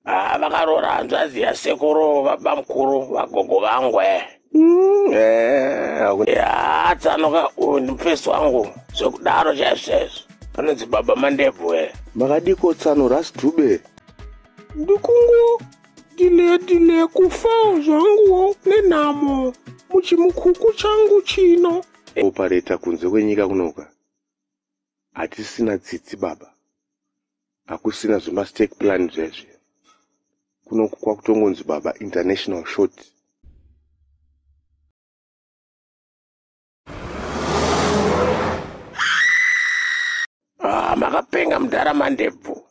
Ah, vakaroora hanzvadzi yasekuru babamukuru vagogo vangu eh. Mm, eh, hakuna- ya tsanoka uyu ndimufesi wangu zvekudaro chaizvezvo anonzi baba mandebvu eh. makadiko tsano ras drube ndikungo dile dile kufa zvanguwo nenhamo muchimukuku changu chino opareta kunze kwenyika kunoka hatisina tsitsi baba hakusina zvemastake plan zvezvi kunoku kwakutongonzi baba international short ah, makapenga mudhara mandebvu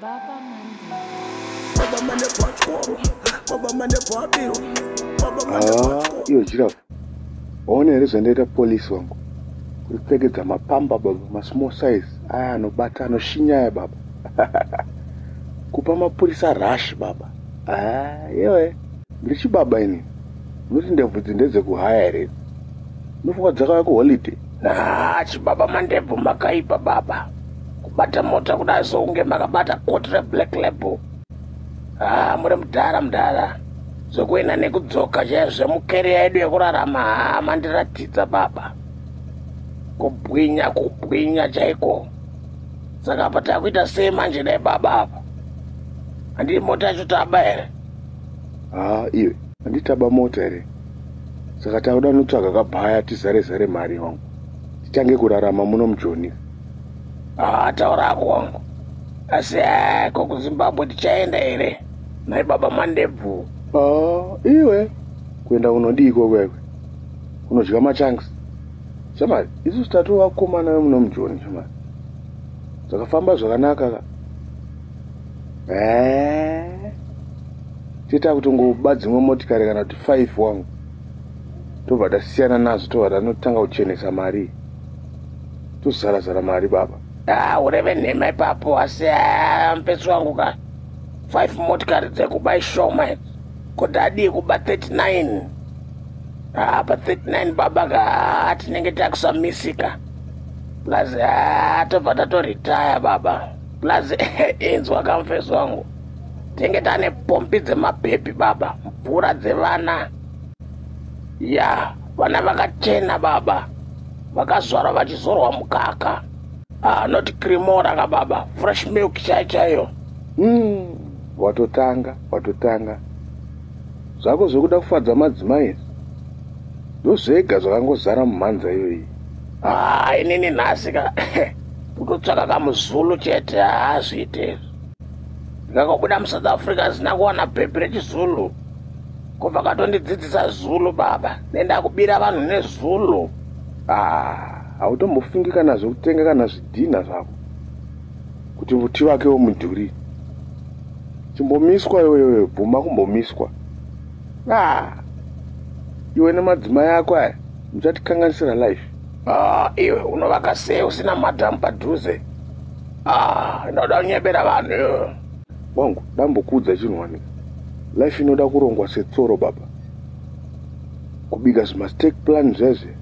Baba mane bhatyoro, baba mane bhabiro, baba mane ah, bhatyoro. Iyo jirafu, waona here zvandaita polisi wangu? Kuripfekedza mapamba baba, masmall size, aya anobata, anoshinya aya baba. Kupa mapurisa rush baba. Ah, yewe, ndiri chibaba ini. Unoti ndebvudzi ndedzekuhaya here? Unofunga dzakauya kuholiday? Nah, chibaba mandebvu makaipa baba. Kubata mota kudai sokunge makabata koti reblack label. Ah, muri mudhara mudhara. Zvekuenda nekudzoka chaiyo zvemukeriya yedu yekurarama haa mandiratidza baba. Kubwinya kubwinya chaiko. Saka apa takuita sei manje dai baba apa? Handii mota yacho taba here? Haa, ah, iwe. Handitaba mota here? saka tauda notsvaga kabhaya tizare zare mari wangu titange kurarama muno mujoni haa taura hako wangu asi eh, ko kuzimbabwe tichaenda here nai baba mandebvu haa iwe kuenda unodii kokwekwe unodya machanks shamari isu sitatovakomana vemuno mujoni shamari zvakafamba zvakanaka ka Eh. Tita kutongoba dzimwe motikari kana kuti 5 wangu. Tobva tasiyana nazvo tobva tanotanga kuchenesa mari. Tozara zara mari baba. Ah, ureve nhema ipapo asi ah, mpeso wangu ka. 5 motikari dzekuba ishoma idzi. Kuti adii kuba 39. Ah, pa 39 baba ka ah, tinenge takusamisika. Plus ah, tobva tatoretire baba. plus inzwa kamfesi wangu tinge tane pombi dzemabhebhi baba mvura dzevana ya vana vakachena baba vakazvarwa vachizorwa mukaka anoti ah, uh, krimora ka baba fresh milk chai chaiyo mm, watotanga watotanga zvako zvekuda kufadza madzimai ndozvega zvakangozara mumhanza iyoyi haa inini nhasi ka kutotsvaka kamuzulu chete haazviite izvi ndakabuda musouth africa hazina kuwana bhebhi rechizulu kubva katondidzidzisa zulu baba nendakubira vanhu nezulu ah, hautombofungi kana zvekutenga kana zvidhinha zvako kuti muti vake womudhuri chimbomiswa iweyoyo bvuma kumbomiswa ah, iwe nemadzima yako aya muchatikanganisira life ah, iwe unovaka sei usina madhamu padhuze ah, inoda kunyebera vanhu wangu dambokuudza chinhu wani life inoda kurongwa setsoro baba kubika zvimastake plan zvezve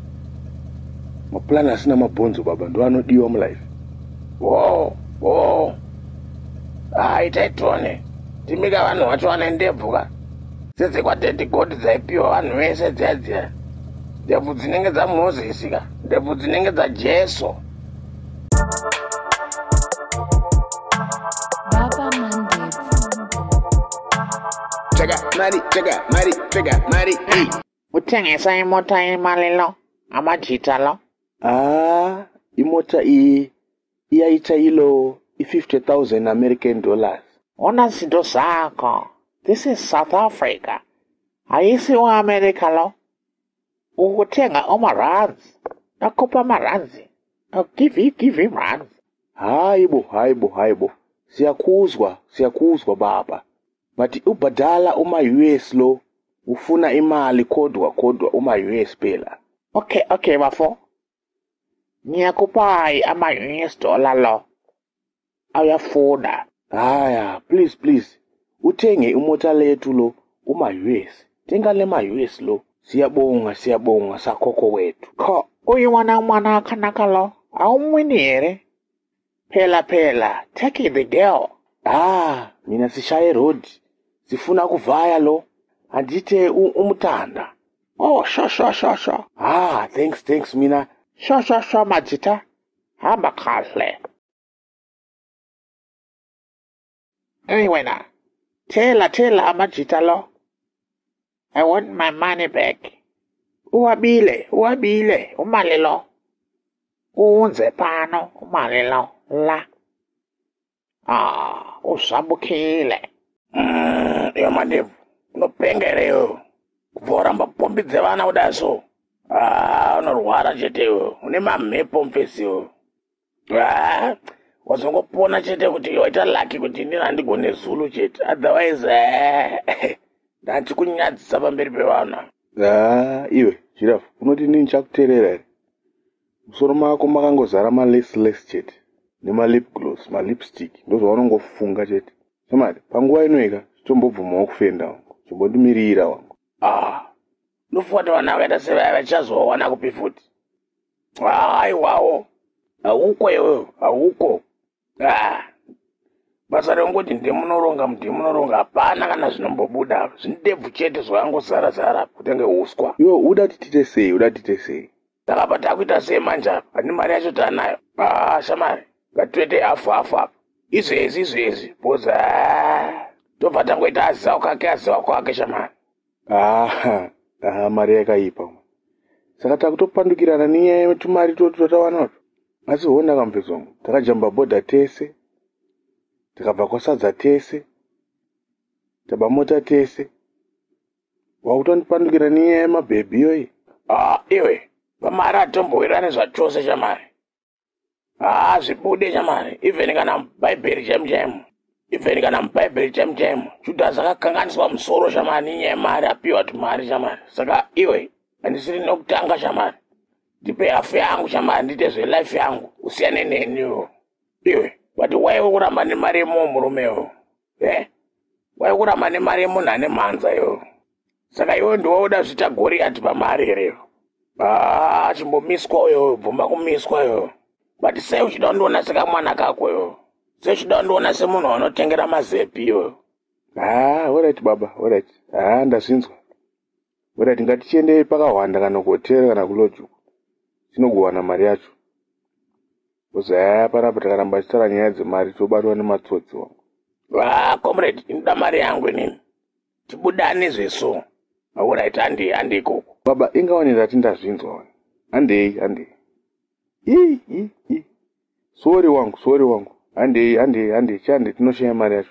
maplan asina mabhonzo baba ndo anodiwa mulife wo wo ah, itai tione timika vanhu vacho vane ndebvu ka tsitsi kwatete goti dzaipiwa vanhu vese dziya dziya ndebvu dzinenge dzamozisi ka ndebvu dzinenge dzajesu Check out, money, check out, money, check out, money. Hey. kutengesa imota yemalilo amajita lo haa ah, imota iyi iyaita ilo i-50,000 american dollars ona zinto zako this is south africa haisi uamerica lo ukutenga omarands nakupa marands I'll give you, give him runs. Haibo, haibo, haibo. Siyakuzwa, siyakuzwa baba. but ubhadala uma-us lo ufuna imali kodwa kodwa uma-us phela okay okay bafo ngiyakupayi ama-us dollar lo ayafuna haya please please uthenge imota lethu lo uma-us thenga le ma-us lo siyabonga siyabonga sakhokho wethu kho uyu wana mwana akanaka lo awumwini here Pela pela, take the girl. Ah, mina sishaye road. Sifuna kuvaya lo. Andite umutanda. Oh, sho sho sho sho. Ah, thanks thanks mina. Sho sho sho majita. Hamba kahle. Hey wena, tell tell amajita lo. I want my money back. Uwabile, uwabile, umali lo. Uunze pano, umali lo, la. Ah, usvambukile. Mm, iyo mandevu, unopenga here iyo? Kubva uramba pombi dzevana kudai so. Ah, unorwara chete iyo, une mamhepo mfesi iyo. wazongopona chete kuti waita laki kuti inini handigone zulu chete otherwise eh, ndati kunyadzisa pamberi pevanhu haa iwe jirafu unoti inini chakuterera here musoro mako makangozara malesless chete nemalip gloss malipstick ndozvavanongofunga chete somati panguva inoika chitombobvumawo kufenda wangu chimbotimirira wangu ah ndofuwata vana vakaita sevaya vachazowawana kupi futi aiwawo hauko iwe hauko ah. basa rongoti ndimunoronga ndimunoronga hapana kana zvinombobuda zvindebvu chete zvakangozara zara kutenge uswa yo uda titite sei uda titite sei takapa takuita sei manje apa handi mari yacho taanayo ah, shamari ngatiwete afu afu apa izvezvi izvezvi boza tobva tangoita aziva kwake aziva kwake shamari aha aha mari yakaipa saka takutopandukirana nenyaya yetumari toti twatawanato asi hona kamupesongo takajamba bhodha tese tikabva kwasadza tese tabamota tese wakutondipandukira niye mabhebhi yoyi ah, iwe pamari atombowirane zvachose chamari haa ah, zvibude chamari even kana mubhaibheri chaimu chaimu even kana mubhaibheri chaimu chaimu judhasi akakanganiswa musoro chamari ninyaya yemari apiwa tumari chamari saka iwe handisiri nokutanga chamari ndipe hafu yangu chamari ndiite zvelife yangu usiyane neniwo iwe but waiwe kuramba nemari yemuwo murumewo eh waikuramba nemari yemunhu ane mhanza yo saka iwe ndiwaoda zviita goriyati pamari here yo aa ah, chimbomiswa uyo bvumba kumiswa yo but sei uchida kundiona sekamwana kako yo sei uchida kundiona semunhu wanotengera mazepi yo haa ah, orit baba orit haa ah, ndazvinzwa orit ngatichiendei pakahwanda kana kuhotera kana kulojuku tinogowana mari yacho Muzaya panapa takaramba tichitaura nyaya dzemari tobatwa nematsotsi wa. Va comrade inoda mari yangu inini. Tibudane zveso. Alright handi handi ikoko. Baba inga wani ndati ndazvinzwa wani. Handei handei. Ii ii ii. Sorry wangu sorry wangu. Handei handei handei chande tinoshaya mari yacho.